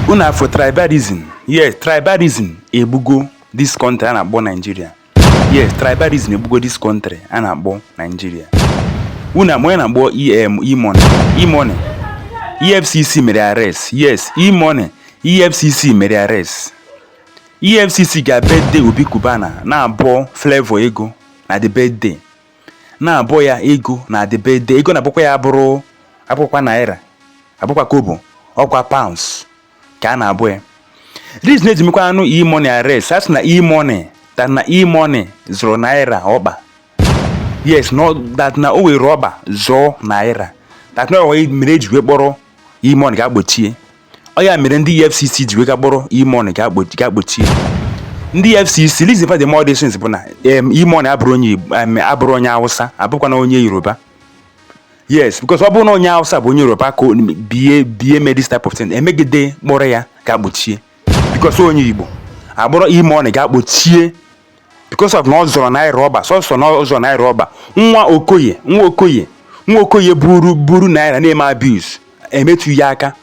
unu afọ tribalism yes tribalism egbugo this country a na-akpọ Nigeria yes tribalism egbugo this country a na-akpọ Nigeria unu ama onye na-akpọ em imone imone efcc mere arrest yes imone efcc mere arrest efcc ga birthday obi kubana na-abọ flavor ego na the birthday na-abọ ya ego na the birthday ego a na-abọkwa ya bụrụ abụkwa naira abụkwa kobo ọkwa pounds ka a na-abọ ya reason eji mekwanụ e-money arrest a sị na e-money that na e-money zọrọ naira ọkpa yes no that na o were ọkpa zọọ naira that na o mere eji wee kpọrọ e-money ga kpochie ọ ya mere ndị EFCC ji wee ga kpọrọ e-money ga kpochie ndị EFCC reason for the more decisions bụ na e-money abụrọ onye abụrọ onye Hausa abụkwana onye Yoruba yes because ọ bụrụ na onye Hausa bụ onye Yoruba ka bie bie mee this type of thing emegide kpọrọ ya ga kpochie because onye Igbo akpọrọ e-money ga kpochie because of na ọ zọrọ naira ọkpa sọsọ na ọ zọrọ naira ọkpa nwa okoye nwa okoye nwa okoye buru buru naira na-eme abuse emetụ ya aka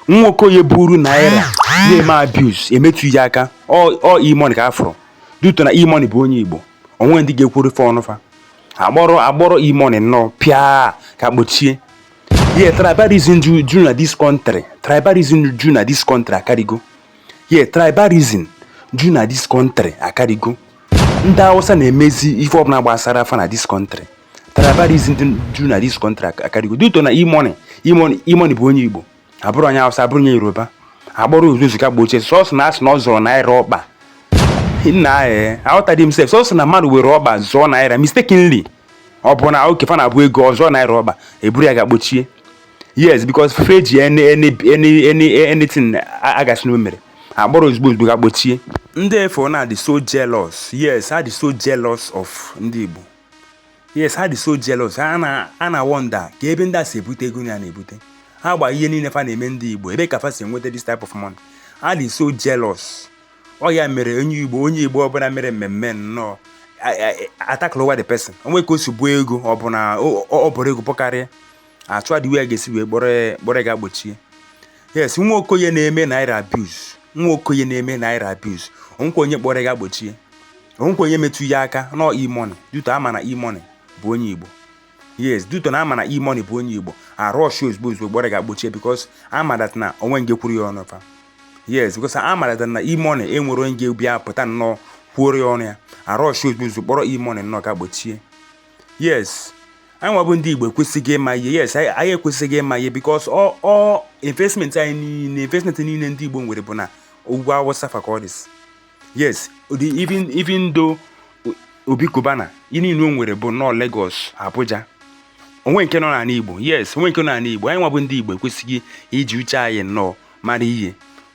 nwa okoye buru naira na-eme abuse emetụ ya aka ọ ọ e-money ka a fụrụ due to na e-money bụ onye igbo onwe ndị ga-ekwuru fa ọnụ fa akpọrọ akpọrọ e-money nnọọ pịa ga kpochie yeah tribalism ju ju na this country tribalism ju na this country akarịgo yeah tribalism ju na this country akarịgo ndị awụsa na-emezi ife ọbụla gbasara fa na this country tribalism dị ju na this country ak- akarịgo due to na e-money e-money e-money bụ onye igbo abụrọ onye awụsa abụrọ onye yoruba akpọrọ ozugbo ga kpochie sọsọ na asị na ọ zọrọ naira ọkpa nna ee aghọtadị m sef sọsọ na mmadụ were ọkpa zọọ naira mistakenly ọ bụ na oge fa na-abọ ego ọ zọọ naira ọkpa eburu ya ga kpochie yes because fa ji any any any any anything a ga-asị na o mere akpọrọ ozugbo ozugbo ga kpochie ndị efo na dị so jealous yes ha dị so jealous of ndị igbo yes ha dị so jealous ha na a na wonder ka ebe ndị a si ebute ego fa na-ebute ha gba ihe niile fa na-eme ndị igbo ebe ka fa si enweta this type of money ha dị so jealous ọ ya mere onye igbo onye igbo ọbụla mere mmemme nnọọ a tacklewa the person onwe ka o si bọọ ego ọ bụ na ọ bọrọ ego bọkarịa achọwa the way a ga-esi wee kpọrọ ya kpọrọ ya ga kpochie yes nwa okoye na-eme naira abuse nwa okoye na-eme naira abuse onwekwa onye kpọrọ ya ga kpochie onwekwa onye metụ ya aka no e-money due to a ma na e-money bụ onye igbo yes due to na a ma na e-money bụ onye igbo a rushie ozugbo ozugbo kpọrọ ya ga kpochie because a ma that na onwe onye ga-ekwuru ya ọnụ fa yes because a ma that na e-money enwerọ onye ga-abịa pụta nnọọ kwuoro ya ọnụ ya a rushie ozugbo ozugbo kpọrọ e-money nnọọ ga kpochie yes anyị nwa bụ ndị igbo ekwesịgo ịma ihe yes anyị ekwesịgo ịma ihe because ọ investment anyị niile investment niile ndị igbo nwere bụ na ugwu awụsa fa ka ọ dị yes even even though obi Cubana ihe niile o nwere bụ nọọ Lagos Abuja onwe nke nọ n'ala Igbo yes onwe nke nọ n'ala Igbo anyị nwa bụ ndị Igbo ekwesịgo iji uche anyị nnọọ mara ihe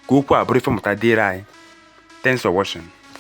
ka okwu a bụrụ ife mmụta dịrị anyị thanks for watching